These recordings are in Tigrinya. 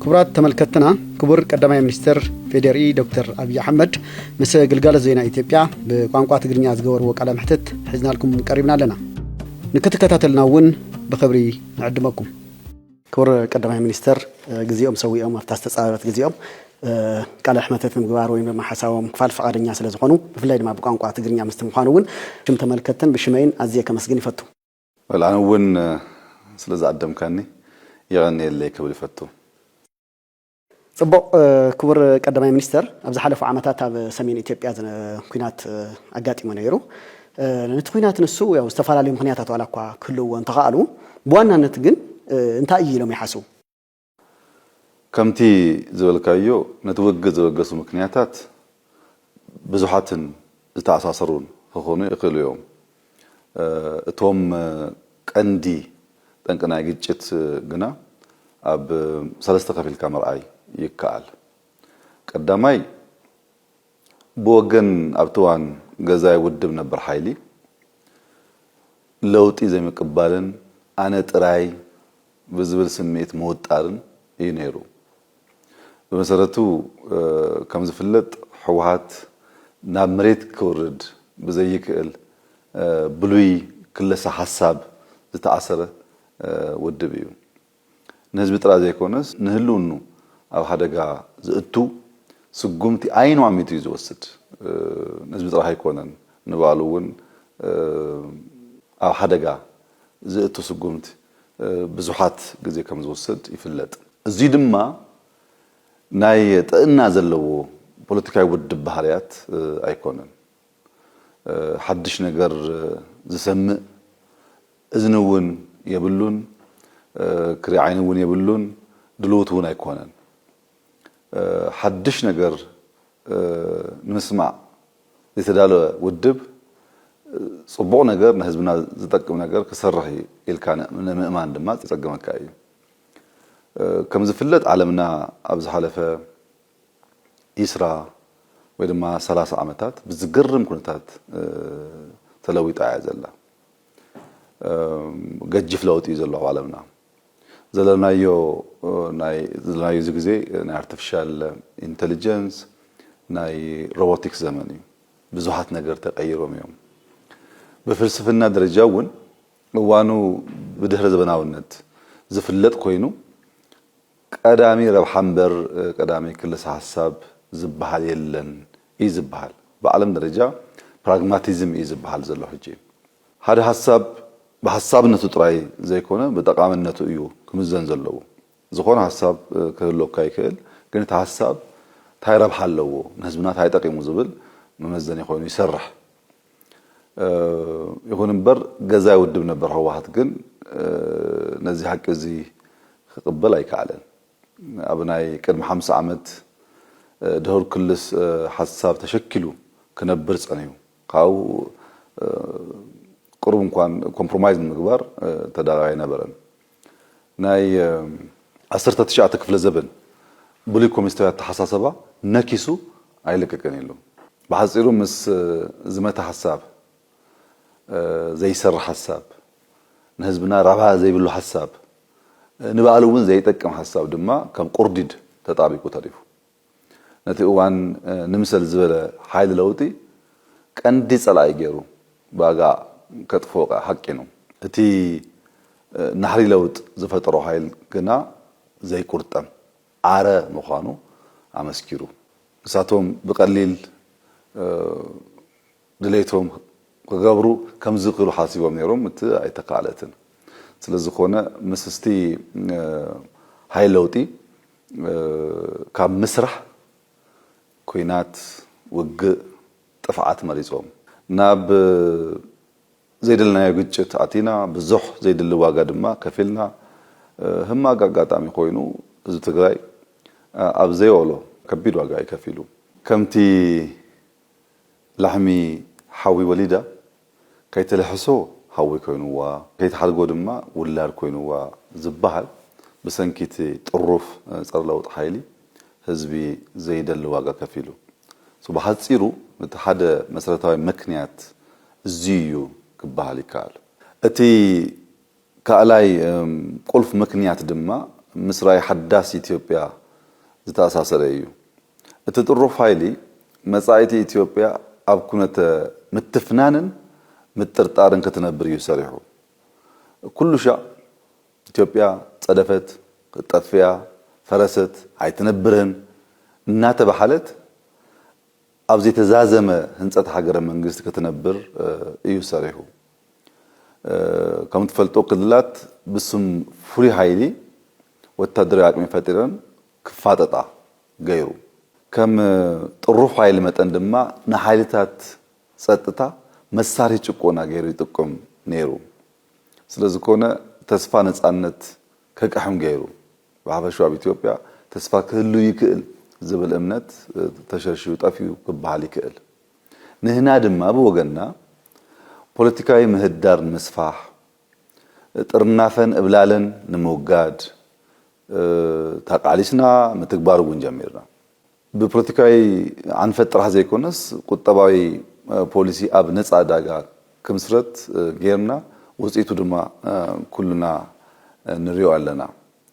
ክቡራት ተመልከትና ክቡር ቀዳማይ ሚኒስትር ፌዴሪ ዶክተር ኣብዪ ኣሕመድ ምስ ግልጋሎት ዜና ኢትዮጵያ ብቋንቋ ትግርኛ ዝገበርዎ ቃለ መሕትት ሒዝናልኩም ቀሪብና ኣለና ንክትከታተልና እውን ብክብሪ ንዕድመኩም ክቡር ቀዳማይ ሚኒስትር ግዜኦም ሰዊኦም ኣብታ ዝተፃበበት ግዜኦም ቃለ ሕመተት ንምግባር ወይም ድማ ሓሳቦም ክፋል ፈቃደኛ ስለዝኾኑ ብፍላይ ድማ ብቋንቋ ትግርኛ ምስቲ ምዃኑ እውን ሽም ተመልከትን ብሽመይን ኣዝየ ከመስግን ይፈቱ ዌል ኣነ ውን ስለ ዝኣደምካኒ የቐንየለይ ክብል ይፈቱ። ጽቡቕ ክቡር ቀዳማይ ሚኒስተር ኣብ ዝሓለፉ ዓመታት ኣብ ሰሜን ኢትዮጵያ ኩናት ኣጋጢሙ ነይሩ ነቲ ኩናት ንሱ ያው ዝተፈላለዩ ምኽንያታት ዋላ እኳ ክህልውዎ እንተኸኣሉ ብዋናነት ግን እንታይ እዩ ኢሎም ይሓስቡ? ከምቲ ዝበልካዮ ነቲ ውግእ ዘበገሱ ምክንያታት ብዙሓትን ዝተኣሳሰሩን ክኾኑ ይኽእሉ እዮም። እቶም ቀንዲ ጠንቂ ናይ ግጭት ግና ኣብ ሰለስተ ከፊልካ ምርኣይ ይከኣል። ቀዳማይ ብወገን ኣብቲ እዋን ገዛኢ ውድብ ነበር ሓይሊ ለውጢ ዘይምቅባልን ኣነ ጥራይ ብዝብል ስምዒት ምውጣርን እዩ ነይሩ። ብመሰረቱ ከምዝፍለጥ ህወሓት ናብ መሬት ክውርድ ብዘይክእል ብሉይ ክለሳ ሓሳብ ዝተኣሰረ ውድብ እዩ። ንህዝቢ ጥራይ ዘይኮነስ ንህልውንኡ ኣብ ሓደጋ ዘእቱ ስጉምቲ ዓይኑ ኣሚቱ እዩ ዝወስድ። ንህዝቢ ጥራሕ ኣይኮነን ንባዕሉ እውን ኣብ ሓደጋ ዘእቱ ስጉምቲ። ብዙሓት ግዜ ከም ዝወስድ ይፍለጥ። እዙይ ድማ ናይ ጥእና ዘለዎ ፖለቲካዊ ውድብ ባህርያት ኣይኮነን። ሓድሽ ነገር ዝሰምእ እዝኒ እውን የብሉን፣ ክሪ ዓይኒ እውን የብሉን፣ ድሉውት እውን ኣይኮነን። ሓድሽ ነገር ንምስማዕ ዝተዳለወ ውድብ ጽቡቕ ነገር ንህዝብና ዝጠቅም ነገር ክሰርሕ እዩ ኢልካ ንምእማን ድማ ዘጸግመካ እዩ። ከም ዝፍለጥ ዓለምና ኣብ ዝሓለፈ ዒስራ ወይ ድማ ሰላሳ ዓመታት ብዝገርም ኩነታት ተለዊጣ እያ ዘላ። ገጅፍ ለውጢ እዩ ዘሎ ኣብ ዓለምና። ዘለናዮ ናይ ዘለናዮ እዚ ግዜ ናይ ኣርተፍሻል ኢንተልጀንስ ናይ ሮቦቲክስ ዘመን እዩ ብዙሓት ነገር ተቀይሮም እዮም ብፍልስፍና ደረጃ እውን እዋኑ ብድህረ ዘበናውነት ዝፍለጥ ኮይኑ ቀዳሚ ረብሓ እምበር ቀዳሚ ክልሰ ሓሳብ ዝበሃል የለን እዩ ዝበሃል ብዓለም ደረጃ ፕራግማቲዝም እዩ ዝበሃል ዘሎ ሕጂ ሓደ ሃሳብ ብሃሳብነቱ ጥራይ ዘይኮነ ብጠቓምነቱ እዩ ክምዘን ዘለዎ። ዝኾነ ሃሳብ ክህልወካ ይክእል ግን እቲ ሃሳብ ታይ ረብሓ ኣለዎ ንህዝብና ታይ ጠቒሙ ዝብል መመዘኒ ኮይኑ ይሰርሕ። ይኹን እምበር ገዛኢ ውድብ ነበር ህወሓት ግን ነዚ ሓቂ እዚ ክቕበል ኣይከኣለን። ኣብ ናይ ቅድሚ ሓምሳ ዓመት ድሁር ክልስ ሓሳብ ተሸኪሉ ክነብር ጸንሑ። ካብኡ ቅሩብ እንኳን ኮምፕሮማይዝ ንምግባር ተዳራይ ኣይነበረን። ናይ ዓሰርተ ትሽዓተ ክፍለ ዘበን ብሉይ ኮሚኒስታዊ ኣተሓሳሰባ ነኪሱ ኣይለቀቅን ኢሉ። ብሓጺሩ ምስ ዝመተ ሓሳብ፣ ዘይሰርሕ ሓሳብ፣ ንህዝብና ረብሓ ዘይብሉ ሓሳብ፣ ንባእሉ እውን ዘይጠቅም ሓሳብ ድማ ከም ቁርዲድ ተጣቢቁ ተሪፉ። ነቲ እዋን ንምሰል ዝበለ ሓይሊ ለውጢ ቀንዲ ጸላኢ ገይሩ ባጋ ከጥፍኦ ከኣ ሃቂኑ። እቲ ናህሪ ለውጥ ዝፈጠሮ ሓይል ግና ዘይቁርጠም ዓረ ምዃኑ ኣመስኪሩ። ንሳቶም ብቀሊል ድሌቶም ክገብሩ ከምዝክእሉ ሓሲቦም ነይሮም እቲ ኣይተካእለትን ስለዝኮነ ምስ እስቲ ሃይል ለውጢ ካብ ምስራሕ ኩናት ውግእ ጥፍዓት መሪጾም ናብ ዘይደለናዮ ግጭት ኣቲና ብዙሕ ዘይድሊ ዋጋ ድማ ከፊልና ህማግ ኣጋጣሚ ኮይኑ ህዝቢ ትግራይ ኣብ ዘይኦሎ ከቢድ ዋጋ እዩ ከፊሉ ከምቲ ላሕሚ ሓዊ ወሊዳ ከይትልሕሶ ሓዊ ኮይኑዋ፣ ከይትሓድጎ ድማ ውላድ ኮይኑዋ ዝበሃል ብሰንኪ እቲ ጥሩፍ ፀረ ለውጢ ሓይሊ ህዝቢ ዘይደሊ ዋጋ ከፊሉ። So ብሓፂሩ እቲ ሓደ መሰረታዊ መክንያት እዙይ እዩ ክበሃል ይከኣል። እቲ ካእላይ ቁልፍ ምክንያት ድማ ምስ ራኢ ሓዳስ ኢትዮጵያ ዝተኣሳሰረ እዩ። እቲ ጥሩፍ ሃይሊ መጻኢቲ ኢትዮጵያ ኣብ ኩነተ ምትፍናንን ምጥርጣርን ክትነብር እዩ ሰሪሑ። ኩሉሻዕ ኢትዮጵያ ጸደፈት፣ ጠፊኣ፣ ፈረሰት፣ ኣይትነብርን እናተበሃለት፣ ኣብ ዘይተዛዘመ ህንፀት ሃገረ መንግስት ክትነብር እዩ ሰሪሑ። ከምትፈልጦ ክልላት ብስም ፍሉይ ሃይሊ ወታደራዊ ኣቅሚ ፈጢረን ክፋጠጣ ገይሩ። ከም ጥሩፍ ሃይሊ መጠን ድማ ንሃይልታት ፀጥታ መሳርሂ ጭቆና ገይሩ ይጥቁም ነይሩ። ስለዝኮነ ተስፋ ነፃነት ከቅሕም ገይሩ። ብሓፈሽኡ ኣብ ኢትዮጵያ ተስፋ ክህሉ ይክእል ዝብል እምነት ተሸርሺሩ ጠፊኡ ክበሃል ይክእል። ንህና ድማ ብወገንና ፖለቲካዊ ምህዳር ንምስፋሕ፣ ጥርናፈን እብላለን ንምውጋድ ተቃሊስና ምትግባር እውን ጀሚርና። ብፖለቲካዊ ኣንፈት ጥራሕ ዘይኮነስ ቁጠባዊ ፖሊሲ ኣብ ነፃ ዕዳጋ ክምስረት ገይርና ውፅኢቱ ድማ ኩልና ንሪኦ ኣለና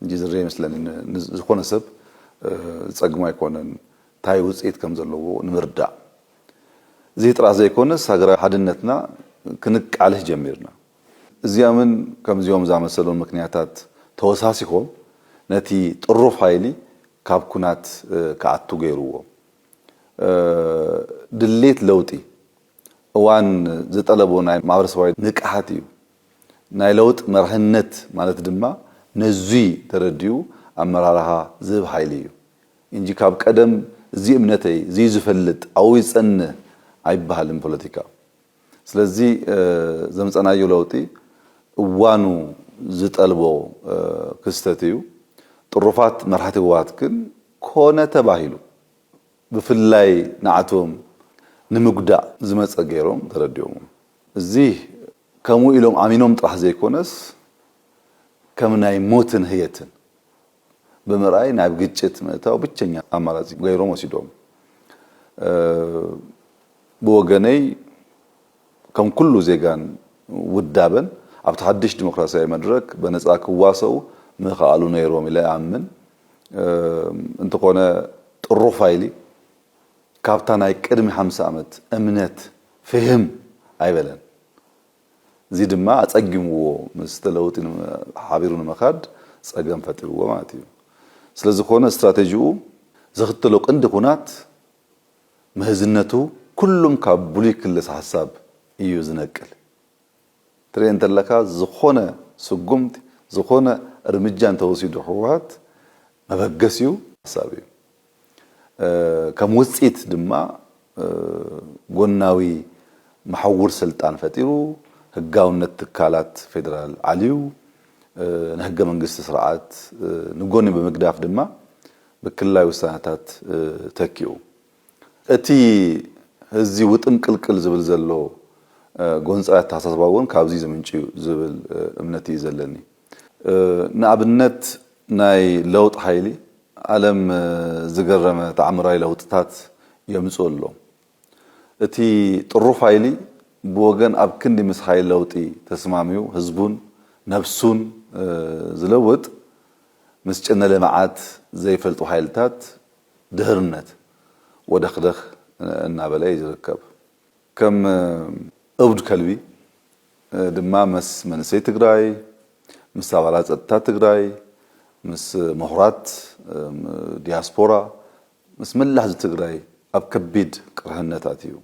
እንጂ ዝርእ ይመስለኒ ንዝኾነ ሰብ ዝፀግሞ ኣይኮነን ታይ ውፅኢት ከምዘለዎ ንምርዳእ እዙይ ጥራሕ ዘይኮነስ ሃገራዊ ሓድነትና ክንቃልሕ ጀሚርና እዚኦምን ከምዚኦም ዝኣመሰሉን ምክንያታት ተወሳሲኾም ነቲ ጥሩፍ ሓይሊ ካብ ኩናት ክኣቱ ገይርዎ። ድሌት ለውጢ እዋን ዝጠለቦ ናይ ማህበረሰባዊ ንቅሓት እዩ። ናይ ለውጥ መርሕነት ማለት ድማ ነዙይ ተረዲኡ ኣመራርሃ ዝህብ ሓይሊ እዩ እንጂ ካብ ቀደም እዙይ እምነተይ እዙይ ዝፈልጥ ኣብኡ ይፀንህ ኣይበሃልን ፖለቲካ። ስለዚ ዘምፀናዮ ለውጢ እዋኑ ዝጠልቦ ክስተት እዩ። ጥሩፋት መራሕቲ ህወሓት ግን ኮነ ተባሂሉ ብፍላይ ንዓቶም ንምጉዳእ ዝመፀ ገይሮም ተረዲኦሞ። እዚ ከምኡ ኢሎም ኣሚኖም ጥራሕ ዘይኮነስ ከም ናይ ሞትን ህየትን። ብምርኣይ ናብ ግጭት ምእታው ብቸኛ ኣማራጺ ገይሮም ወሲዶም። ብወገነይ ከም ኩሉ ዜጋን ውዳበን ኣብቲ ሓድሽ ዲሞክራሲያዊ መድረክ በነጻ ክዋሰኡ ምኸኣሉ ነይሮም ኢለ እኣምን። እንተኾነ ጥሩፋይሊ ካብታ ናይ ቅድሚ ሓምሳ ኣመት እምነት ፍህም ኣይበለን። እዚ ድማ ኣጸጊምዎ ምስቲ ለውጢ ሓቢሩ ንምኻድ ጸገም ፈጢርዎ ማለት እዩ። ስለዝኾነ ስትራቴጂኡ ዝኽተሎ ቅንዲ ኩናት ምህዝነቱ ኩሉም ካብ ብሉይ ክልስ ሓሳብ እዩ ዝነቅል። ትርኤ እንተለካ ዝኾነ ስጉምቲ ዝኾነ እርምጃ እንተወሲዱ ህወሓት መበገሲኡ ሓሳብ እዩ። ከም ውጽኢት ድማ ጎናዊ መሓውር ስልጣን ፈጢሩ፣ ህጋውነት ትካላት ፌደራል ዓልዩ፣ ንሕገ መንግስቲ ስርዓት ንጎኒ ብምግዳፍ ድማ ብክልላዊ ውሳነታት ተኪኡ። እቲ ህዚ ውጥንቅልቅል ዝብል ዘሎ ጎንጻዊ ኣተሓሳስባ እውን ካብዚ ዝምንጩ እዩ ዝብል እምነት እዩ ዘለኒ። ንኣብነት ናይ ለውጥ ሓይሊ ዓለም ዝገረመ ተኣምራዊ ለውጥታት የምጽኡ ኣሎ። እቲ ጥሩፍ ሓይሊ ብወገን ኣብ ክንዲ ምስ ሓይሊ ለውጢ ተስማሚው ህዝቡን ነብሱን ዝለውጥ ምስ ጭነ ልምዓት ዘይፈልጡ ሓይልታት ድህርነት ወደኽደኽ እናበለ እዩ ዝርከብ። ከም እብድ ከልቢ ድማ መስ መንእሰይ ትግራይ፣ ምስ ኣባላት ፀጥታ ትግራይ፣ ምስ ምሁራት ዲያስፖራ፣ ምስ መላእ ህዝቢ ትግራይ ኣብ ከቢድ ቅርህነት ኣትዩ።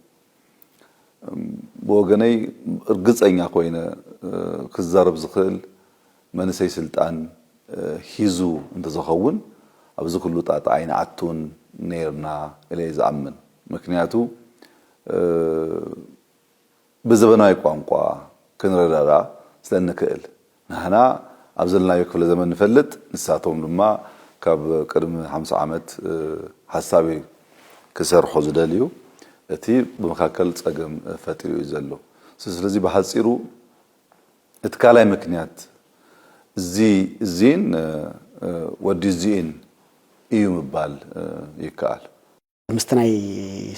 ብወገነይ እርግፀኛ ኮይነ ክዛረብ ዝኽእል መንእሰይ ስልጣን ሂዙ እንተዘኸውን ኣብዚ ኩሉ ጣጣ ኣይንኣቱን ነይርና ኢለ እየ ዝኣምን። ምክንያቱ ብዘበናዊ ቋንቋ ክንረዳዳእ ስለእንክእል። ንሕና ኣብ ዘለናዮ ክፍለ ዘመን ንፈልጥ፣ ንሳቶም ድማ ካብ ቅድሚ ሓምሳ ዓመት ሓሳብ እዩ ክሰርሑ ዝደልዩ። እቲ ብመካከል ፀገም ፈጢሩ እዩ ዘሎ። ስለዚ ብሓፂሩ እቲ ካልኣይ ምክንያት እዚ እዚን ወዲ እዚእን እዩ ምባል ይከኣል። ምስቲ ናይ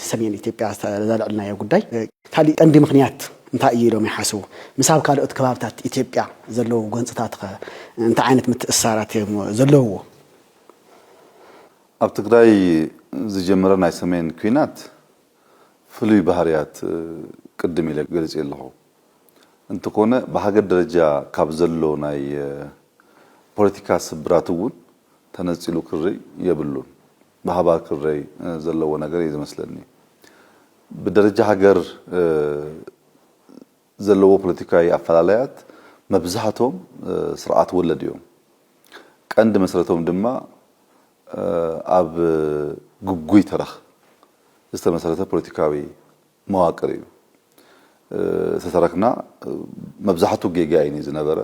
ሰሜን ኢትዮጵያ ዘልዕልናዮ ጉዳይ ካሊእ ቀንዲ ምክንያት እንታይ እዩ ኢሎም ይሓስቡ? ምስ ኣብ ካልኦት ከባብታት ኢትዮጵያ ዘለዉ ጎንፅታትኸ እንታይ ዓይነት ምትእስሳራት እዮም ዘለዉዎ? ኣብ ትግራይ ዝጀመረ ናይ ሰሜን ኲናት ፍሉይ ባህርያት ቅድም ኢለ ገሊፀዮ ኣለኹ። እንተኮነ ብሃገር ደረጃ ካብ ዘሎ ናይ ፖለቲካ ስብራት እውን ተነጺሉ ክርእ የብሉን። ብሃባር ክረይ ዘለዎ ነገር እየ ዝመስለኒ። ብደረጃ ሃገር ዘለዎ ፖለቲካዊ ኣፈላላያት መብዛሕቶም ስርዓት ወለድ እዮም። ቀንዲ መሰረቶም ድማ ኣብ ግጉይ ተረኽ ዝተመሰረተ ፖለቲካዊ መዋቅር እዩ ዝተረክና መብዛሕቱ ጌጋ እዩ ዝነበረ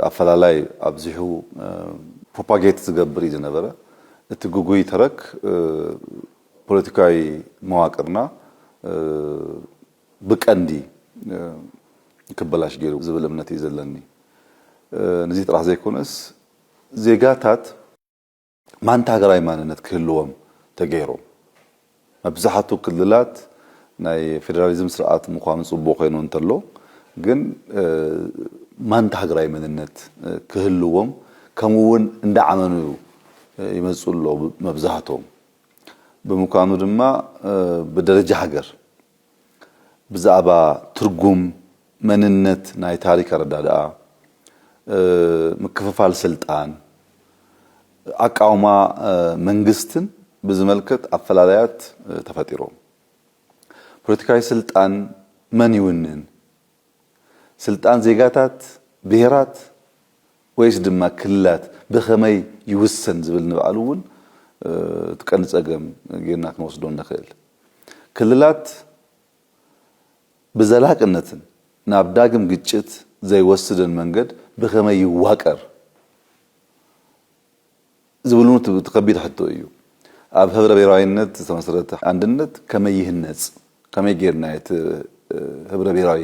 ኣፈላላይ ኣብዚሑ ፕሮፓጌት ዝገብር እዩ ዝነበረ እቲ ግጉይ ተረክ ፖለቲካዊ መዋቅርና ብቀንዲ ክበላሽ ገይሩ ዝብል እምነት እዩ ዘለኒ ንዚ ጥራሕ ዘይኮነስ ዜጋታት ማንታ ሃገራዊ ማንነት ክህልዎም ተገይሮም። መብዛሕቱ ክልላት ናይ ፌደራሊዝም ስርዓት ምዃኑ ጽቡቕ ኮይኑ እንተሎ ግን ማንታ ሃገራዊ መንነት ክህልዎም ከምኡ እውን እንዳዓመኑ ይመጽኡ ኣለዉ መብዛሕቶም። ብምኳኑ ድማ ብደረጃ ሃገር ብዛዕባ ትርጉም፣ መንነት ናይ ታሪክ ኣረዳድኣ፣ ምክፍፋል ስልጣን፣ ኣቃውማ መንግስትን ብዝመልከት ኣፈላላያት ተፈጢሮም። ፖለቲካዊ ስልጣን መን ይውንን? ስልጣን ዜጋታት፣ ብሄራት ወይስ ድማ ክልላት ብኸመይ ይውሰን ዝብል ንባዕሉ እውን እቲ ቀንዲ ፀገም ጌርና ክንወስዶ እንኽእል። ክልላት ብዘላቅነትን ናብ ዳግም ግጭት ዘይወስድን መንገድ ብኸመይ ይዋቀር? ዝብሉ እቲ ከቢድ ሕቶ እዩ። ኣብ ህብረ ብሄራዊነት ዝተመስረተ ኣንድነት ከመይ ይህነፅ? ከመይ ገይርና እዩ እቲ ህብረ ብሄራዊ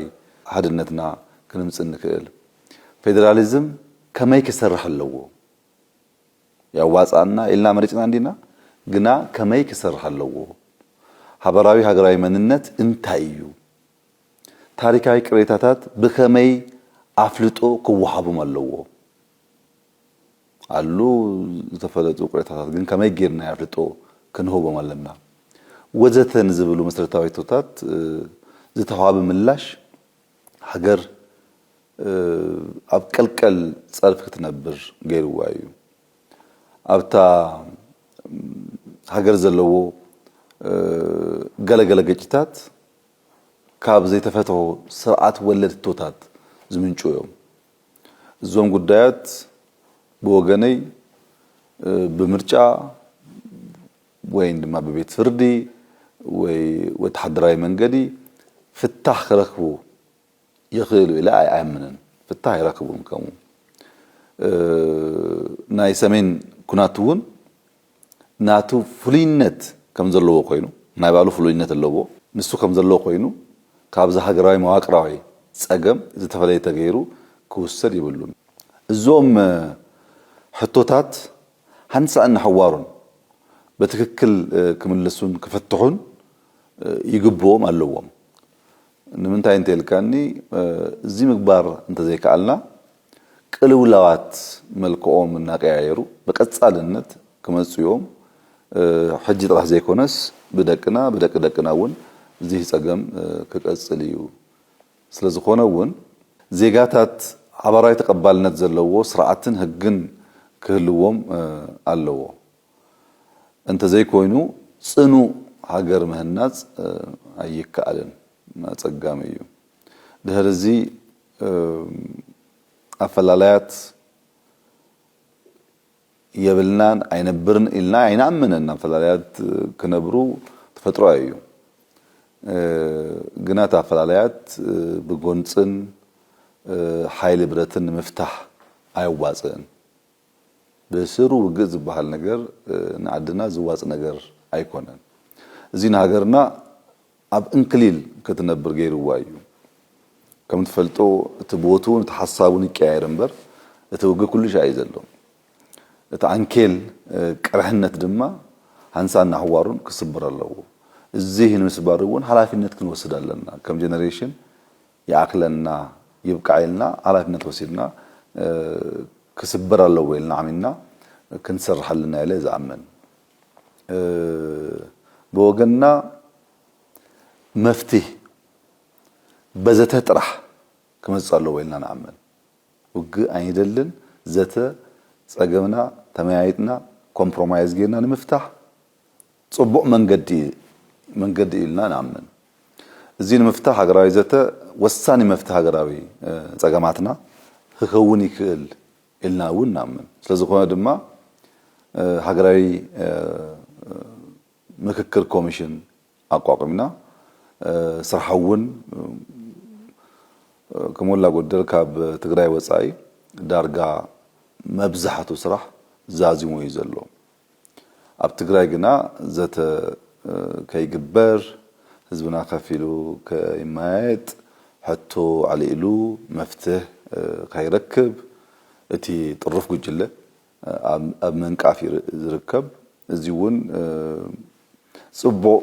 ሓድነትና ክንምፅ እንክእል? ፌዴራሊዝም ከመይ ክሰርሕ ኣለዎ? የዋፅኣና ኢልና መሪፅና እንዲና ግና ከመይ ክሰርሕ ኣለዎ? ሓበራዊ ሃገራዊ መንነት እንታይ እዩ? ታሪካዊ ቅሬታታት ብኸመይ ኣፍልጦ ክወሃቦም ኣለዎ? ኣሉ ዝተፈለጡ ቅሬታታት ግን ከመይ ጌርና ኣፍልጦ ክንህቦም ኣለና ወዘተ ንዝብሉ መሰረታዊ ሕቶታት ዝተዋህበ ምላሽ ሃገር ኣብ ቀልቀል ጸርፊ ክትነብር ገይርዋ እዩ። ኣብታ ሃገር ዘለዎ ገለ ገለ ግጭታት ካብ ዘይተፈትሑ ስርዓት ወለድ ሕቶታት ዝምንጩ እዮም። እዞም ጉዳያት ብወገነይ ብምርጫ ወይን ድማ ብቤት ፍርዲ ወይ ወተሓደራዊ መንገዲ ፍታሕ ክረክቡ ይኽእሉ ኢለ ኣይኣምንን። ፍታሕ ኣይረክቡን ከምኡ ናይ ሰሜን ኩናት እውን ናቱ ፍሉይነት ከም ዘለዎ ኮይኑ፣ ናይ ባዕሉ ፍሉይነት ኣለዎ፣ ንሱ ከም ዘለዎ ኮይኑ ካብዚ ሃገራዊ መዋቅራዊ ጸገም ዝተፈለየ ተገይሩ ክውሰድ የብሉን። እዞም ሕቶታት ሓንሳእን ንሓዋሩን በትክክል ክምልሱን ክፍትሑን ይግብኦም ኣለዎም። ንምንታይ እንተኢልካኒ እዚ ምግባር እንተዘይከኣልና ቅልውላዋት መልክዖም እናቀያየሩ ብቀጻልነት ክመጽኡ'ዮም። ሕጂ ጥራሕ ዘይኮነስ ብደቅና ብደቂ ደቅና እውን እዚ ጸገም ክቀጽል እዩ። ስለዝኾነ እውን ዜጋታት ሓባራዊ ተቀባልነት ዘለዎ ስርዓትን ሕግን ክህልዎም ኣለዎ። እንተዘይኮይኑ ጽኑዕ ሃገር ምህናጽ ኣይከኣልን። ኣጸጋሚ እዩ። ድሕሪ እዚ። ኣፈላላያት የብልናን ኣይነብርን ኢልና ኣይንኣምንን። ኣፈላላያት ክነብሩ ተፈጥሮኣዊ እዩ። ግና እቲ ኣፈላላያት ብጎንፅን ሓይሊ ብረትን ንምፍታሕ ኣየዋፅእን። ብስሩ ውግእ ዝበሃል ነገር ንዓድና ዝዋፅ ነገር ኣይኮነን። እዚ ንሃገርና ኣብ እንክሊል ክትነብር ገይርዋ እዩ። ከም ትፈልጦ እቲ ቦትኡን እቲ ሓሳቡን ይቀያየር እምበር እቲ ውግእ ኩሉሻዕ እዩ ዘሎ። እቲ ዓንኬል ቅርሕነት ድማ ሃንሳእን ናሕዋሩን ክስበር ኣለዎ። እዙይ ንምስባር እውን ሓላፊነት ክንወስድ ኣለና። ከም ጀነሬሽን ይኣክለና ይብቃዕ ኢልና ሓላፊነት ወሲድና ክስበር ኣለዎ ኢልና ኣሚንና ክንሰርሕ ኣለና ኢለ ዝኣምን። ብወገንና መፍትህ በዘተ ጥራሕ ክመጽእ ኣለዎ ኢልና ንኣምን። ውግእ ኣይንደልን ዘተ ጸገምና ተመያይጥና ኮምፕሮማይዝ ጌርና ንምፍታሕ ጽቡቕ መንገዲ መንገዲ እዩ ኢልና ንኣምን። እዚ ንምፍታሕ ሃገራዊ ዘተ ወሳኒ መፍትህ ሃገራዊ ጸገማትና ክከውን ይክእል ኢልና እውን ንኣምን። ስለዝኾነ ድማ ሃገራዊ ምክክር ኮሚሽን ኣቋቒምና ስርሓ እውን ከሞላ ጎደል ካብ ትግራይ ወፃኢ ዳርጋ መብዛሕቱ ስራሕ ዛዚሙ እዩ ዘሎ። ኣብ ትግራይ ግና ዘተ ከይግበር፣ ህዝብና ከፍ ኢሉ ከይመያየጥ፣ ሕቶ ኣልዒሉ መፍትሕ ከይረክብ እቲ ጥሩፍ ጉጅለ ኣብ ምንቃፍ እዩ ዝርከብ። እዚ እውን ፅቡቕ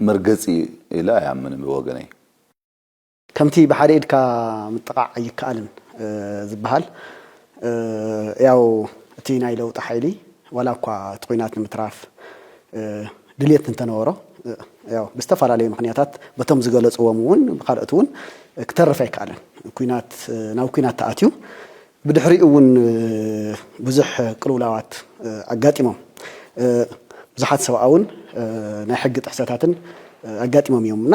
መርገፂ እዩ ኢለ ኣይኣምንን ብወገነይ። ከምቲ ብሓደ ኢድካ ምጥቓዕ ኣይከኣልን ዝበሃል፣ ያው እቲ ናይ ለውጢ ሓይሊ ዋላ እኳ እቲ ኹናት ንምትራፍ ድልየት እንተነበሮ ያው ብዝተፈላለዩ ምኽንያታት በቶም ዝገለፅዎም እውን ብካልኦት እውን ክተርፍ ኣይከኣለን። ኹናት ናብ ኹናት ተኣትዩ ብድሕሪኡ እውን ብዙሕ ቅልውላዋት ኣጋጢሞም ብዙሓት ሰብኣውን ናይ ሕጊ ጥሕሰታትን ኣጋጢሞም እዮም እና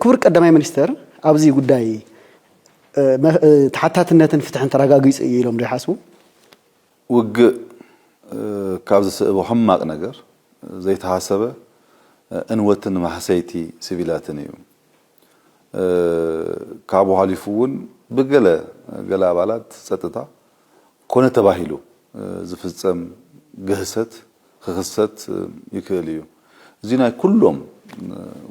ክቡር ቀዳማይ ሚኒስትር ኣብዚ ጉዳይ ተሓታትነትን ፍትሕን ተረጋጊፁ እዩ ኢሎም ዶ ይሓስቡ? ውግእ ካብ ዝስእቦ ሕማቕ ነገር ዘይተሓሰበ እንወትን ማህሰይቲ ሲቪላትን እዩ። ካብኡ ሓሊፉ እውን ብገለ ገለ ኣባላት ፀጥታ፣ ኮነ ተባሂሉ ዝፍጸም ግህሰት ክኽሰት ይክእል እዩ። እዚ ናይ ኩሎም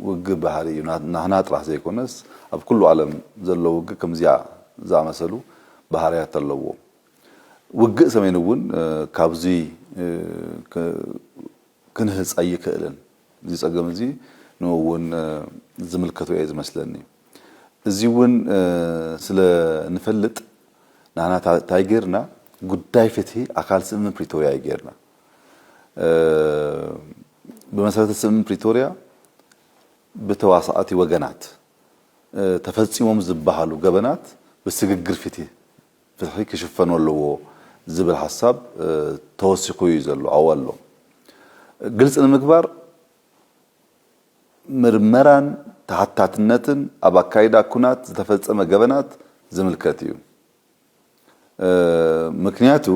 ውግእ ባህሪ እዩ። ናህና ጥራሕ ዘይኮነስ ኣብ ኩሉ ዓለም ዘሎ ውግእ ከምዚኣ ዝኣመሰሉ ባህርያት ኣለዎ። ውግእ ሰሜን እውን ካብዚ ክንህጽ ኣይክእልን። እዚ ጸገም እዚ ንኡ እውን ዝምልከቶ እየ ዝመስለኒ። እዚውን ስለ ንፈልጥ ንሕና ታይ ገይርና ጉዳይ ፍትሂ ኣካል ስምምዕ ፕሪቶርያ እዩ ገይርና። ብመሰረተ ስምምዕ ፕሪቶርያ ብተዋሳእቲ ወገናት ተፈፂሞም ዝበሃሉ ገበናት ብስግግር ፍትሂ ክሽፈኑ ኣለዎ ዝብል ሓሳብ ተወሲኹ እዩ ዘሎ ኣው ኣሎ። ግልፂ ንምግባር ምርመራን ተሓታትነትን ኣብ ኣካይዳ ኩናት ዝተፈጸመ ገበናት ዝምልከት እዩ። ምክንያቱ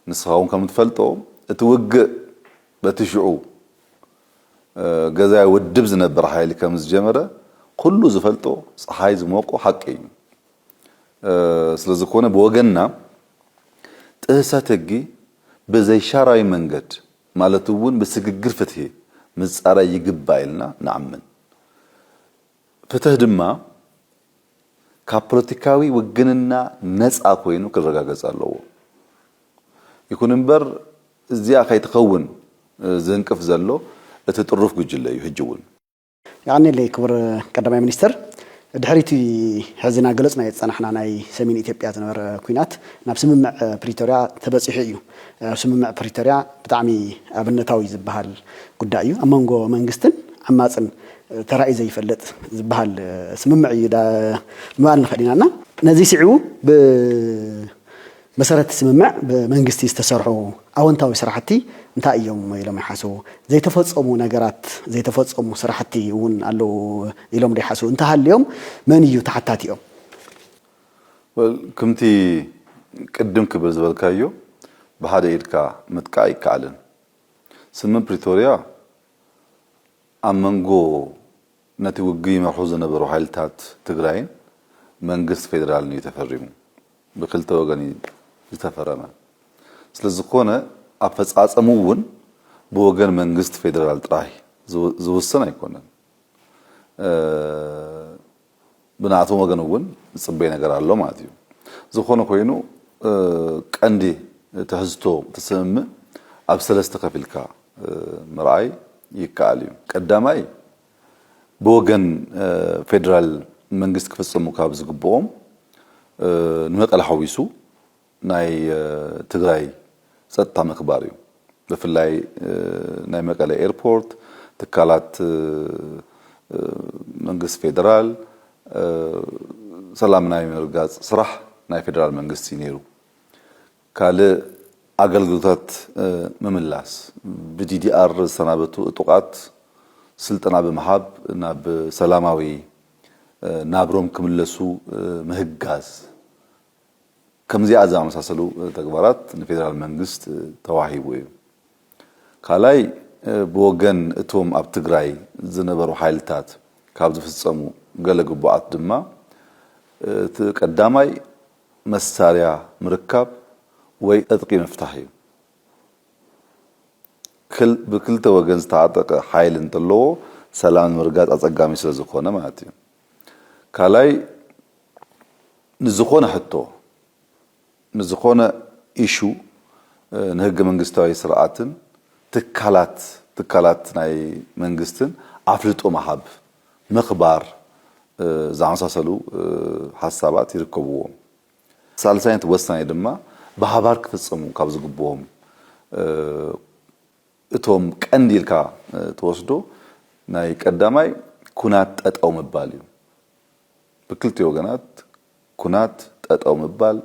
ንስኻ እውን ከም እትፈልጦ እቲ ውግእ በቲ ሽዑ ገዛኢ ውድብ ዝነበር ሓይሊ ከም ዝጀመረ ኩሉ ዝፈልጦ ጸሓይ ዝሞቆ ሓቂ እዩ። ስለ ዝኾነ ብወገንና ጥህሰት ህጊ ብዘይሻራዊ መንገድ፣ ማለት እውን ብስግግር ፍትሒ ምፃራይ ይግባእ ኢልና ንኣምን። ፍትሕ ድማ ካብ ፖለቲካዊ ውግንና ነፃ ኮይኑ ክረጋገፅ ኣለዎ። ይኹን እምበር እዚኣ ከይትኸውን ዝንቅፍ ዘሎ እቲ ጥሩፍ ጉጅለ እዩ ሕጂ እውን። የቐኔለይ ክቡር ቀዳማይ ሚኒስትር፣ ድሕሪ እቲ ሕዚ እናገለፅናዮ ዝፀናሕና ናይ ሰሜን ኢትዮጵያ ዝነበረ ኲናት ናብ ስምምዕ ፕሪቶርያ ተበፂሑ እዩ። ስምምዕ ፕሪቶርያ ብጣዕሚ ኣብነታዊ ዝበሃል ጉዳይ እዩ። ኣብ መንጎ መንግስትን ዓማፅን ተራእዩ ዘይፈልጥ ዝበሃል ስምምዕ እዩ ምባል ንኽእል ኢና እና ነዙይ ስዒቡ ብ መሰረት እቲ ስምምዕ ብመንግስቲ ዝተሰርሑ ኣወንታዊ ስራሕቲ እንታይ እዮም ኢሎም ይሓስቡ? ዘይተፈፀሙ ነገራት፣ ዘይተፈፀሙ ስራሕቲ እውን ኣለዉ ኢሎም ዶ ይሓስቡ? እንተሃልዮም መን እዩ ተሓታቲኦም? Well ክምቲ ቅድም ክብል ዝበልካዮ ብሓደ ኢድካ ምጥቃ ኣይከኣልን። ስምም ፕሪቶርያ ኣብ መንጎ ነቲ ውግእ ይመርሑ ዝነበሩ ሓይልታት ትግራይን መንግስት ፌደራልን እዩ ተፈሪሙ። ብክልተ ወገን እዩ ዝተፈረመ። ስለዝኾነ ኣፈፃፀሙ እውን ብወገን መንግስቲ ፌዴራል ጥራይ ዝውሰን ኣይኮነን። ብናኣቶም ወገን እውን ዝፅበይ ነገር ኣሎ ማለት እዩ። ዝኾነ ኮይኑ ቀንዲ ትሕዝቶ እቲ ስምምዕ ኣብ ሰለስተ ከፊልካ ምርኣይ ይከኣል እዩ። ቀዳማይ ብወገን ፌደራል መንግስቲ ክፍፀሙ ካብ ዝግብኦም ንመቀለ ሓዊሱ ናይ ትግራይ ፀጥታ ምክባር እዩ። ብፍላይ ናይ መቀለ ኤርፖርት፣ ትካላት መንግስቲ ፌደራል ሰላም ናይ ምርግጋፅ ስራሕ ናይ ፌደራል መንግስቲ እዩ ነይሩ። ካልእ ኣገልግሎታት ምምላስ፣ ብዲዲኣር ዝተሰናበቱ እጡቓት ስልጠና ብምሃብ ናብ ሰላማዊ ናብሮም ክምለሱ ምህጋዝ፣ ከምዚኣ ዝኣመሳሰሉ ተግባራት ንፌደራል መንግስት ተዋሂቡ እዩ። ካልኣይ ብወገን እቶም ኣብ ትግራይ ዝነበሩ ሓይልታት ካብ ዝፍፀሙ ገለ ግቡኣት ድማ እቲ ቀዳማይ መሳርያ ምርካብ ወይ ዕጥቂ ምፍታሕ እዩ። ብክልተ ወገን ዝተዓጠቀ ሓይሊ እንተለዎ ሰላም ንምርጋፅ ኣፀጋሚ ስለዝኾነ ማለት እዩ። ካልኣይ ንዝኾነ ሕቶ ንዝኾነ ኢሹ ንህገ መንግስታዊ ስርዓትን ትካላት ትካላት ናይ መንግስትን ኣፍልጦ ምሃብ። ምኽባር ዝኣመሳሰሉ ሓሳባት ይርከብዎም። ሳልሳይን ወሳኒ ድማ ብሓባር ክፍፀሙ ካብ ዝግብኦም እቶም ቀንዲ ኢልካ ትወስዶ ናይ ቀዳማይ ኩናት ጠጠው ምባል እዩ። ብክልቲኡ ወገናት ኩናት ጠጠው ምባል፣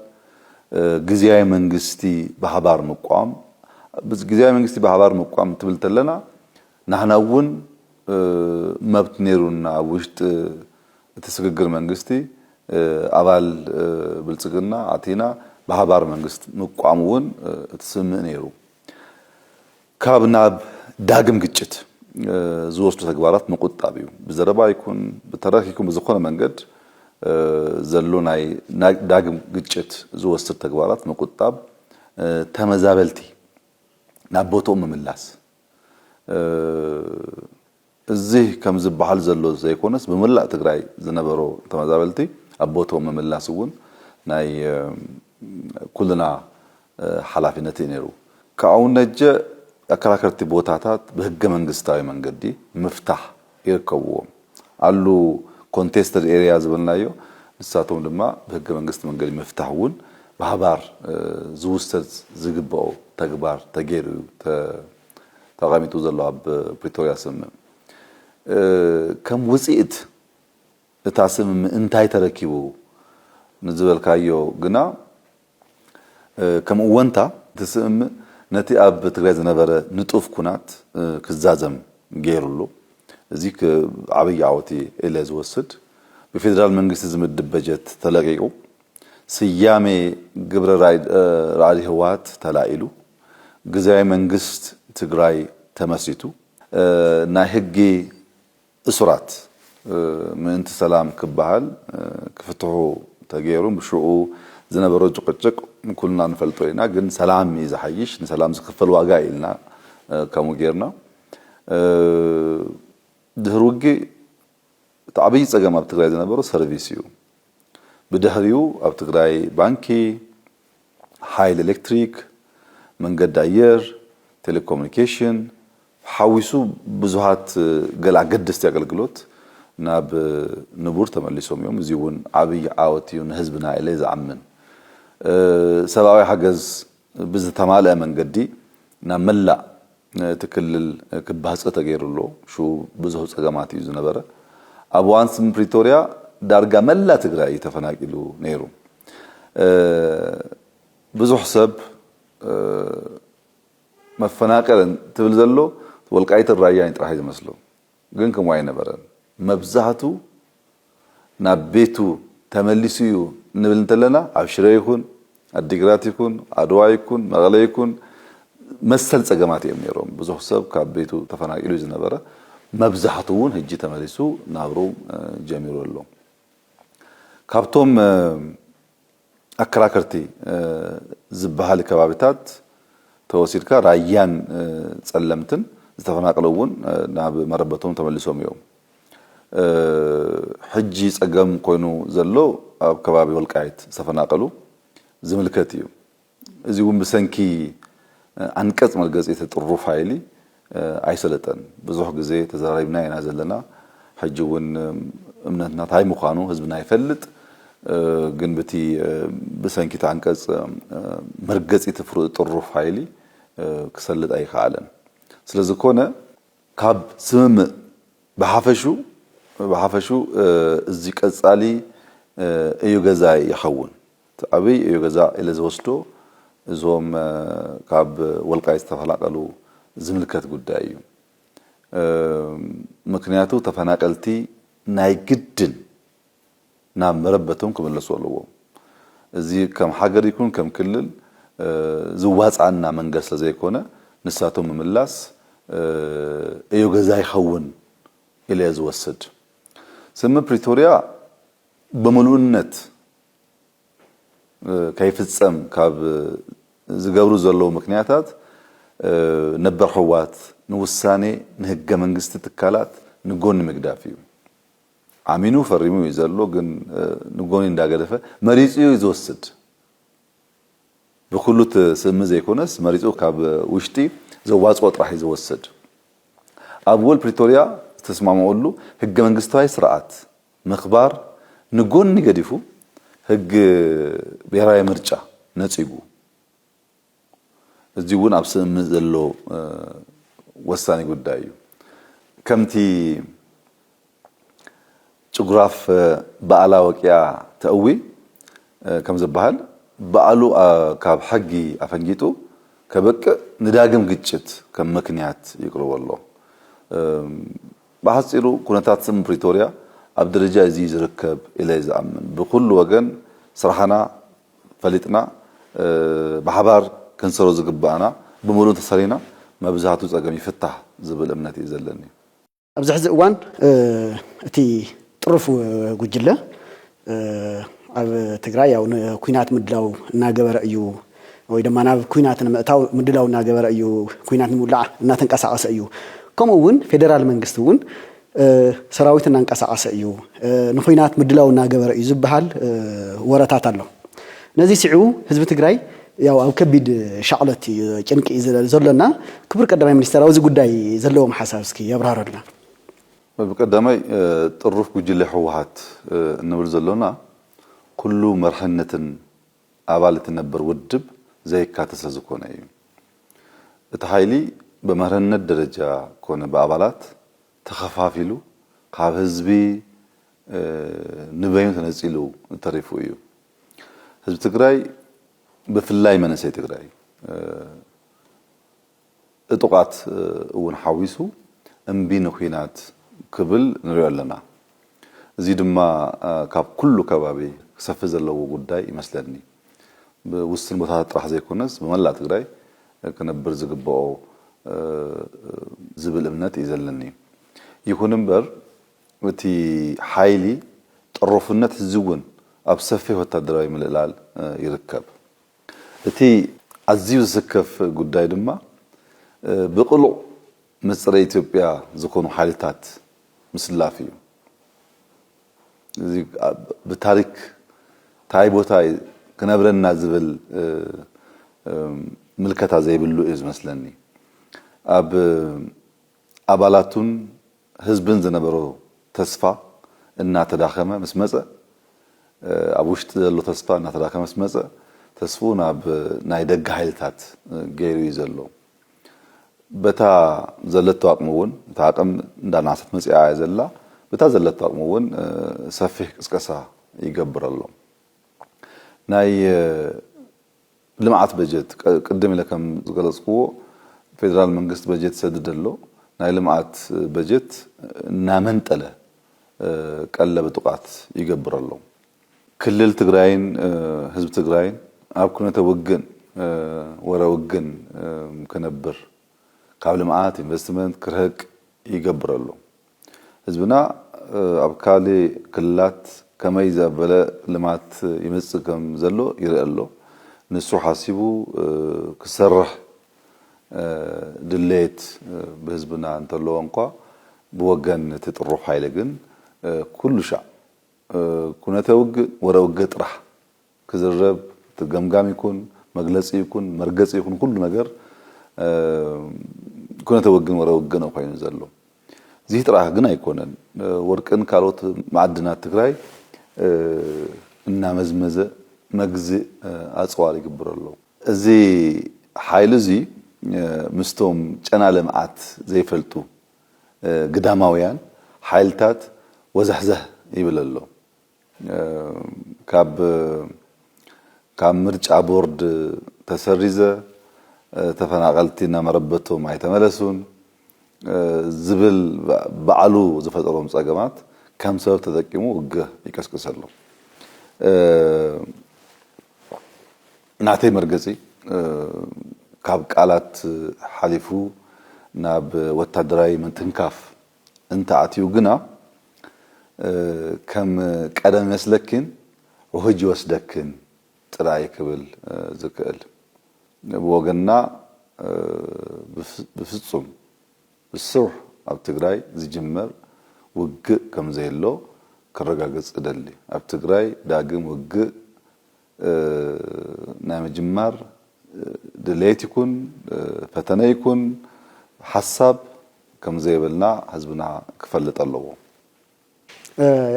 ግዝያዊ መንግስቲ ብሃባር ምቋም፣ ግዝያዊ መንግስቲ ብሃባር ምቋም እንትብል ተለና ናህና እውን መብት ነይሩና ኣብ ውሽጢ እቲ ስግግር መንግስቲ ኣባል ብልፅግና ኣቲና ብሃባር መንግስት ምቋም እውን እቲ ስምምእ ነይሩ። ካብ ናብ ዳግም ግጭት ዝወስዱ ተግባራት ምቁጣብ እዩ። ብዘረባ ይኩን ብተረክ ይኩን ብዝኮነ መንገድ ዘሎ ናይ ዳግም ግጭት ዝወስድ ተግባራት ምቁጣብ፣ ተመዛበልቲ ናብ ቦትኦም ምምላስ፣ እዚ ከም ዝበሃል ዘሎ ዘይኮነስ ብመላእ ትግራይ ዝነበሩ ተመዛበልቲ ኣብ ቦትኦም ምምላስ እውን ናይ ኩልና ሓላፊነት እዩ ነይሩ። ካብኡ ነጀ ኣከራከርቲ ቦታታት ብህገ መንግስታዊ መንገዲ ምፍታሕ ይርከብዎም። ኣሉ ኮንቴስተድ ኤርያ ዝበልናዮ ንሳቶም ድማ ብህገ መንግስቲ መንገዲ ምፍታሕ እውን ብሃባር ዝውሰድ ዝግበኦ ተግባር ተገይሩ እዩ። ተቐሚጡ ዘሎ ኣብ ፕሪቶርያ ስምምዕ ከም ውፅኢት እታ ስምምዕ እንታይ ተረኪቡ ንዝበልካዮ ግና ከም እወንታ እቲ ስምምዕ ነቲ ኣብ ትግራይ ዝነበረ ንጡፍ ኩናት ክዛዘም ገይሩ ኣሎ። እዚ ዓብይ ዓወት ኢለ ዝወስድ ብፌዴራል መንግስቲ ዝምድብ በጀት ተለቂቁ ስያሜ ግብረ ራዕዲ ህወሓት ተላኢሉ ግዝያዊ መንግስት ትግራይ ተመስሪቱ ናይ ህጊ እሱራት ምእንቲ ሰላም ክበሃል ክፍትሑ ተገይሩ ብሽኡ ዝነበሮ ጭቅጭቅ ኩልና ንፈልጦ ኢና ግን ሰላም እዩ ዝሓይሽ ንሰላም ዝክፈል ዋጋ እዩ ኢልና ከምኡ ገይርና ድህሪ ውግእ እቲ ዓብይ ፀገም ኣብ ትግራይ ዝነበሮ ሰርቪስ እዩ ብድሕሪኡ ኣብ ትግራይ ባንኪ ሓይሊ ኤሌክትሪክ፣ መንገዲ ኣየር፣ ቴሌኮሙኒኬሽን ሓዊሱ ብዙሃት ገለ ኣገደስቲ ኣገልግሎት ናብ ንቡር ተመሊሶም እዮም። እዚ እውን ዓብይ ዓወት እዩ ንህዝብና ኢለ ዝኣምን። ሰብኣዊ ሓገዝ ብዝተማልኣ መንገዲ ናብ መላእ እቲ ክልል ክባፅህ ተገይሩ ኣሎ። ሽኡ ብዙህ ፀገማት እዩ ዝነበረ። ኣብ እዋን ስምምዕ ፕሪቶርያ ዳርጋ መላእ ትግራይ እዩ ተፈናቂሉ ነይሩ። ብዙሕ ሰብ መፈናቀል እንትብል ዘሎ ወልቃይትን ራያን ጥራሕ እዩ ዝመስሎ ግን ከምኡ ኣይነበረን መብዛሕቱ ናብ ቤቱ ተመሊሱ እዩ እንብል እንተለና ኣብ ሽረ ይኹን ኣዲግራት ይኹን ኣድዋ ይኩን መቐለ ይኩን መሰል ፀገማት እዮም ነይሮም ብዙሕ ሰብ ካብ ቤቱ ተፈናቂሉ እዩ ዝነበረ መብዛሕቱ እውን ህጂ ተመሊሱ ናብሩ ጀሚሩ ኣሎ ካብቶም ኣከራከርቲ ዝበሃሊ ከባቢታት ተወሲድካ ራያን ፀለምትን ዝተፈናቀሉ እውን ናብ መረበቶም ተመሊሶም እዮም። ሕጂ ፀገም ኮይኑ ዘሎ ኣብ ከባቢ ወልቃይት ዝተፈናቀሉ ዝምልከት እዩ። እዚ እውን ብሰንኪ ኣንቀጽ መርገጺ እቲ ጥሩፍ ሃይሊ ኣይሰለጠን ብዙሕ ግዜ ተዘራሪብና ኢና ዘለና ሕጂ እውን እምነትና ታይ ምዃኑ ህዝብና ይፈልጥ ግን ብቲ ብሰንኪ እቲ ኣንቀጽ መርገጺ እቲ ጥሩፍ ሃይሊ ክሰልጥ ኣይከኣለን ስለዝኮነ ካብ ስምምእ ብሓፈሹ ብሓፈሹ እዚ ቀጻሊ እዩ ገዛይ ይኸውን። እቲ ዓብይ ዕዮ ገዛ ኢለ ዝወስዶ እዞም ካብ ወልቃይት ዝተፈናቀሉ ዝምልከት ጉዳይ እዩ። ምክንያቱ ተፈናቀልቲ ናይ ግድን ናብ መረበቶም ክምለሱ ኣለዎም። እዚ ከም ሃገር ይኩን ከም ክልል ዝዋፅኣና መንገድ ስለዘይኮነ ንሳቶም ምምላስ ዕዮ ገዛ ይኸውን ኢለ እየ ዝወስድ። ስምምዕ ፕሪቶርያ ብምሉእነት ከይፍጸም ካብ ዝገብሩ ዘለዉ ምክንያታት ነበር ሕዋት ንውሳኔ ንህገ መንግስቲ ትካላት ንጎኒ ምግዳፍ እዩ። ኣሚኑ ፈሪሙ እዩ ዘሎ ግን ንጎኒ እንዳገደፈ መሪጹ እዩ ዝወስድ ብኩሉ ትስእሚ ዘይኮነስ መሪጹ ካብ ውሽጢ ዘዋጽኦ ጥራሕ እዩ ዝወስድ። ኣብ ውል ፕሪቶርያ ዝተስማምዑሉ ህገ መንግስታዊ ስርዓት ምክባር ንጎኒ ገዲፉ ህግ ብሄራዊ ምርጫ ነጺጉ እዚ ውን ኣብ ስምምዕ ዘሎ ወሳኒ ጉዳይ እዩ ከምቲ ጭጉራፍ ባኣላ ወቂያ ተእዊ ከምዝባሃል ባኣሉ ካብ ሕጊ ኣፈንጊጡ ከብቅእ ንዳግም ግጭት ከም ምክንያት ይቅርቦ ኣሎ። ብሓጺሩ ኩነታት ስም ፕሪቶርያ ኣብ ደረጃ እዚ'ዩ ዝርከብ ኢለ'የ ዝኣምን። ብኹሉ ወገን ስራሕና ፈሊጥና ብሓባር ክንሰሮ ዝግበኣና ብምሉእ እንተሰሪና መብዛህቱ ጸገም ይፍታሕ ዝብል እምነት'ዩ ዘለኒ። ኣብዚ ሕዚ እዋን እቲ ጥሩፍ ጉጅለ ኣብ ትግራይ ያው ንኩናት ምድላው እናገበረ እዩ ወይ ድማ ናብ ኩናት ንምእታው ምድላው እናገበረ እዩ፣ ኩናት ንምውላዕ እናተንቀሳቐሰ እዩ፣ ከምኡ እውን ፌደራል መንግስቲ እውን ሰራዊት እናንቀሳቐሰ እዩ፣ ንኩናት ምድላው እናገበረ እዩ ዝበሃል ወረታት ኣሎ። ነዚ ስዒቡ ህዝቢ ትግራይ ያው ኣብ ከቢድ ሻቕሎት እዩ ጭንቂ እዩ ዘሎና። ክቡር ቀዳማይ ሚኒስተር ኣብዚ ጉዳይ ዘለዎም ሓሳብ እስኪ የብራህሩልና። ብቀዳማይ ጥሩፍ ጉጅለ ህወሓት እንብል ዘሎና ኩሉ መርሕነትን ኣባል እቲ ነበር ውድብ ዘየካተ ስለዝኮነ እዩ። እቲ ሓይሊ በመርህነት ደረጃ ኮነ ብኣባላት ተኸፋፊሉ ካብ ህዝቢ ንበይኑ ተነጺሉ ተሪፉ እዩ። ህዝቢ ትግራይ ብፍላይ መንእሰይ ትግራይ እጡቃት እውን ሓዊሱ እምቢ ንኩናት ክብል ንሪኦ ኣለና። እዙይ ድማ ካብ ኩሉ ከባቢ ክሰፍሕ ዘለዎ ጉዳይ ይመስለኒ። ብውስን ቦታታት ጥራሕ ዘይኮነስ ብመላእ ትግራይ ክነብር ዝግበኦ ዝብል እምነት እዩ ዘለኒ። ይኹን እምበር እቲ ሓይሊ ጠሮፍነት ሕዚ እውን ኣብ ሰፊሕ ወታደራዊ ምልእላል ይርከብ። እቲ ኣዝዩ ዝስከፍ ጉዳይ ድማ ብቅሉዕ ምስ ጸረ ኢትዮጵያ ዝኾኑ ሓይልታት ምስላፍ እዩ። እዚ ብታሪክ ታይ ቦታ እዩ ክነብረና ዝብል ምልከታ ዘይብሉ እዩ ዝመስለኒ። ኣብ ኣባላቱን ህዝብን ዝነበሮ ተስፋ እናተዳኸመ ምስ መጸ፣ ኣብ ውሽጢ ዘሎ ተስፋ እናተዳኸመ ምስ መጸ፣ ተስፍኡ ናብ ናይ ደገ ሓይልታት ገይሩ እዩ ዘሎ። በታ ዘለቶ ኣቕሚ እውን፣ እታ ኣቕም እንዳነኣሰት መጺኣ እያ ዘላ፣ በታ ዘለቶ ኣቕሚ እውን ሰፊሕ ቅስቀሳ ይገብር ኣሎ። ናይ ልምዓት በጀት ቅድም ኢለ ከም ዝገለፅክዎ ፌደራል መንግስት በጀት ይሰድድ ኣሎ። ናይ ልምዓት በጀት እናመንጠለ ቀለብ ዕጡቓት ይገብር ኣሎ። ክልል ትግራይን ህዝቢ ትግራይን ኣብ ኩነተ ውግን ወረ ውግን ክነብር ካብ ልምዓት፣ ኢንቨስትመንት ክርሀቅ ይገብር ኣሎ። ህዝብና ኣብ ካሌ ክልላት ከመይ ዘበለ ልማት ይምጽእ ከም ዘሎ ይርእ ኣሎ። ንሱ ሓሲቡ ክሰርሕ ድሌት ብህዝብና እንተለዎ እንኳ ብወገን እቲ ጥሩፍ ሓይሊ ግን ኩሉሻዕ ኩነተ ውግእ ወረ ውግእ ጥራሕ ክዝረብ እቲ ገምጋም ይኩን መግለጺ ይኩን መርገጺ ይኩን ኩሉ ነገር ኩነተ ወግን ወረ ውግእ ነው ኮይኑ ዘሎ። እዚህ ጥራሕ ግን ኣይኮነን ወርቅን ካልኦት ማዕድናት ትግራይ እናመዝመዘ መግዝእ ኣጽዋር ይግብሮ ኣሎ። እዚ ሓይሊ እዚ ምስቶም ጨና ልምዓት ዘይፈልጡ ግዳማውያን ሓይልታት ወዛሕዛሕ ይብል ኣሎ። ካብ ካብ ምርጫ ቦርድ ተሰሪዘ ተፈናቀልቲ ናብ መረበቶም ኣይተመለሱን ዝብል ባዕሉ ዝፈጠሮም ፀገማት ከም ሰበብ ተጠቂሙ ውግህ ይቀስቅሰሎም። ናተይ መርገፂ ካብ ቃላት ሓሊፉ ናብ ወታደራዊ ምትንካፍ፣ እንተኣትዩ ግና ከም ቀደም ይመስለኪን ውህጅ ይወስደክን ጥራይ ክብል ዝክእል። ብወገንና ብፍጹም ብሱሩሕ ኣብ ትግራይ ዝጅመር ውግእ ከምዘየሎ ከረጋግጽ እደሊ። ኣብ ትግራይ ዳግም ውግእ ናይ ምጅማር ድሌት ይኩን ፈተነ ይኩን ሓሳብ ከምዘይብልና ህዝብና ክፈልጥ ኣለዎ።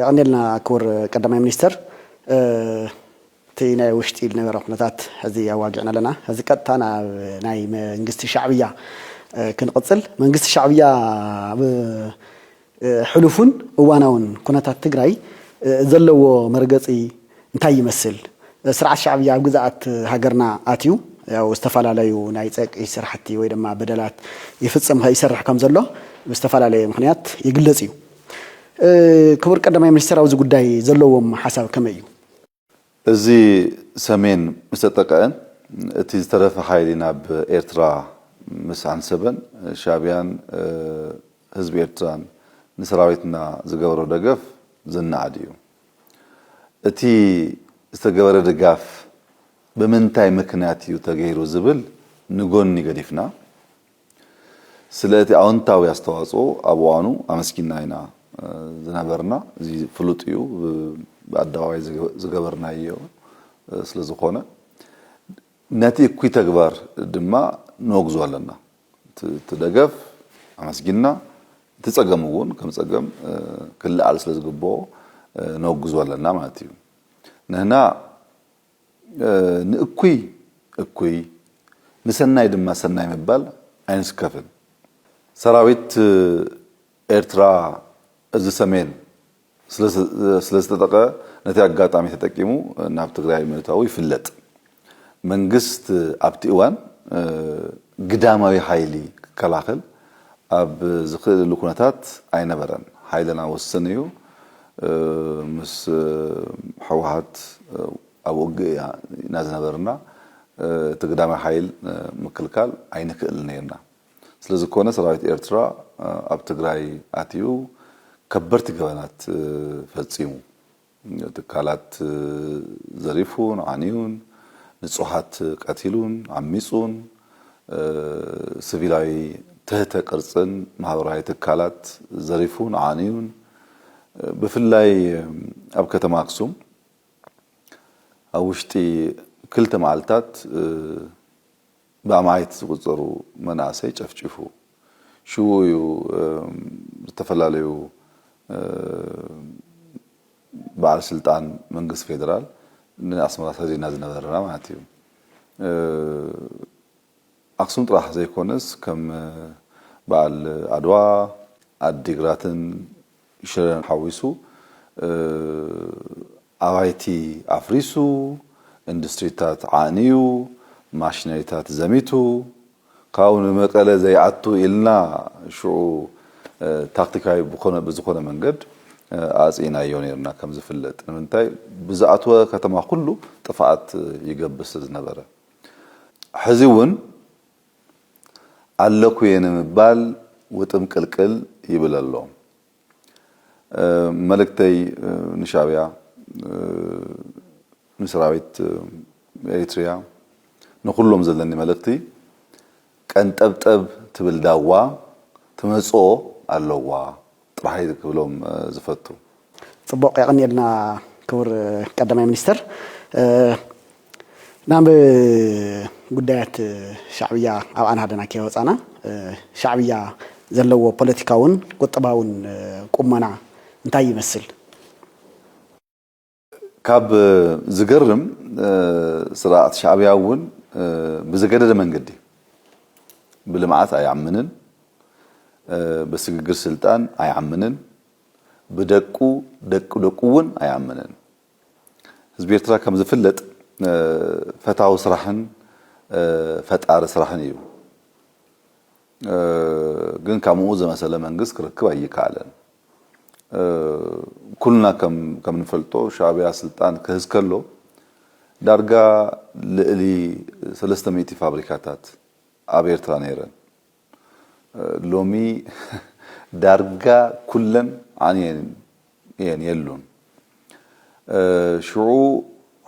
የቐንየልና ክቡር ቀዳማይ ሚኒስትር። እቲ ናይ ውሽጢ ዝነበረ ኩነታት ሕዚ ኣዋጊዕና ኣለና። ሕዚ ቀጥታ ናብ ናይ መንግስቲ ሻዕብያ ክንቕፅል። መንግስቲ ሻዕብያ ኣብ ሕሉፍን እዋናውን ኩነታት ትግራይ ዘለዎ መርገፂ እንታይ ይመስል? ስርዓት ሻዕብያ ኣብ ግዝኣት ሃገርና ኣትዩ ያው ዝተፋላለዩ ናይ ፀቅዒ ስራሕቲ ወይ ድማ በደላት ይፍፅም ይሰርሕ ከም ዘሎ ብዝተፋላለየ ምክንያት ይግለፅ እዩ። ክቡር ቀዳማይ ሚኒስትር ኣብዚ ጉዳይ ዘለዎም ሓሳብ ከመይ እዩ? እዚ ሰሜን ምስ ተጠቀእን እቲ ዝተረፈ ሓይሊ ናብ ኤርትራ ምስ ኣንሰበን ሻቢያን ህዝቢ ኤርትራን ንሰራዊትና ዝገበሮ ደገፍ ዝናኣድ እዩ። እቲ ዝተገበረ ድጋፍ ብምንታይ ምክንያት እዩ ተገይሩ ዝብል ንጎኒ ገዲፍና፣ ስለ እቲ ኣወንታዊ ኣስተዋጽኦ ኣብ እዋኑ ኣመስጊንና ኢና ዝነበርና። እዚ ፍሉጥ እዩ፣ ብኣደባባይ ዝገበርናዮ ስለ ዝኾነ። ነቲ እኩይ ተግባር ድማ ነወግዞ ኣለና። እቲ ደገፍ ኣመስጊንና፣ እቲ ጸገም እውን ከም ጸገም ክለዓል ስለ ዝግበኦ ነወግዞ ኣለና ማለት እዩ። ንሕና ንእኩይ እኩይ ንሰናይ ድማ ሰናይ ምባል ኣይንስከፍን። ሰራዊት ኤርትራ እዚ ሰሜን ስለዝተጠቐ ነቲ ኣጋጣሚ ተጠቂሙ ናብ ትግራይ ምእታዉ ይፍለጥ። መንግስት ኣብቲ እዋን ግዳማዊ ሓይሊ ክከላኸል ኣብ ዝኽእለሉ ኩነታት ኣይነበረን። ሓይልና ውስን እዩ። ምስ ህወሓት ኣብ ውግእ እያ ኢና ዝነበርና እቲ ግዳማይ ሓይል ምክልካል ኣይንክእልን ነይርና ስለዝኮነ ሰራዊት ኤርትራ ኣብ ትግራይ ኣትዩ ከበድቲ ገበናት ፈፂሙ ትካላት ዘሪፉን ዓንዩን ንፁሃት ቀቲሉን ዓሚፁን ስቪላዊ ትህተ ቅርፅን ማህበራዊ ትካላት ዘሪፉን ዓንዩን ብፍላይ ኣብ ከተማ ኣክሱም ኣብ ውሽጢ ክልተ መዓልታት ብኣማኢት ዝቑፀሩ መናእሰይ ጨፍጪፉ። ሽኡ እዩ ዝተፈላለዩ በዓል ስልጣን መንግስቲ ፌደራል ንኣስመራ ሰዲድና ዝነበርና ማለት እዩ። ኣክሱም ጥራሕ ዘይኮነስ ከም በዓል ኣድዋ ዓዲግራትን ሽረን ሓዊሱ ኣባይቲ ኣፍሪሱ ኢንዱስትሪታት ዓንዩ ማሽነሪታት ዘሚቱ ካብኡ ንመቀለ ዘይኣቱ ኢልና ሽዑ ታክቲካዊ ብዝኾነ መንገድ ኣፅኢናዮ ነይርና ከምዝፍለጥ ንምንታይ ብዝኣትወ ከተማ ኩሉ ጥፍኣት ይገብር ስለዝነበረ። ሕዚ እውን ኣለኩየ ንምባል ውጥምቅልቅል ይብል ኣሎ። መልእክተይ ንሻዕብያ፣ ንሰራዊት ኤሪትሪያ፣ ንኹሎም ዘለኒ መልእኽቲ ቀንጠብጠብ ትብል ዳዋ ትመጽኦ ኣለዋ። ጥራሕ እየ ክብሎም ዝፈቱ። ፅቡቕ የቐንየልና ክቡር ቀዳማይ ሚኒስትር። ናብ ጉዳያት ሻዕብያ ኣብ ኣናህደና ከይወፃና ሻዕብያ ዘለዎ ፖለቲካውን ቁጠባውን ቁመና እንታይ ይመስል? ካብ ዝገርም ስርዓት ሻዕብያ እውን ብዝገደደ መንገዲ ብልምዓት ኣይኣምንን፣ ብስግግር ስልጣን ኣይኣምንን፣ ብደቁ ደቂ ደቁ እውን ኣይኣምንን። ህዝቢ ኤርትራ ከም ዝፍለጥ ፈታዊ ስራሕን ፈጣሪ ስራሕን እዩ። ግን ካምኡ ዘመሰለ መንግስት ክርክብ ኣይካኣለን ኩልና ከምንፈልጦ ሻዕቢያ ስልጣን ክህዝ ከሎ ዳርጋ ልእሊ ሰለስተ ሚእቲ ፋብሪካታት ኣብ ኤርትራ ነይረን ሎሚ ዳርጋ ኩለን ዓንየን እየን የሉን ሽዑ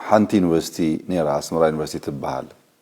ሓንቲ ዩኒቨርሲቲ ነይራ ኣስመራ ዩኒቨርሲቲ ትባሃል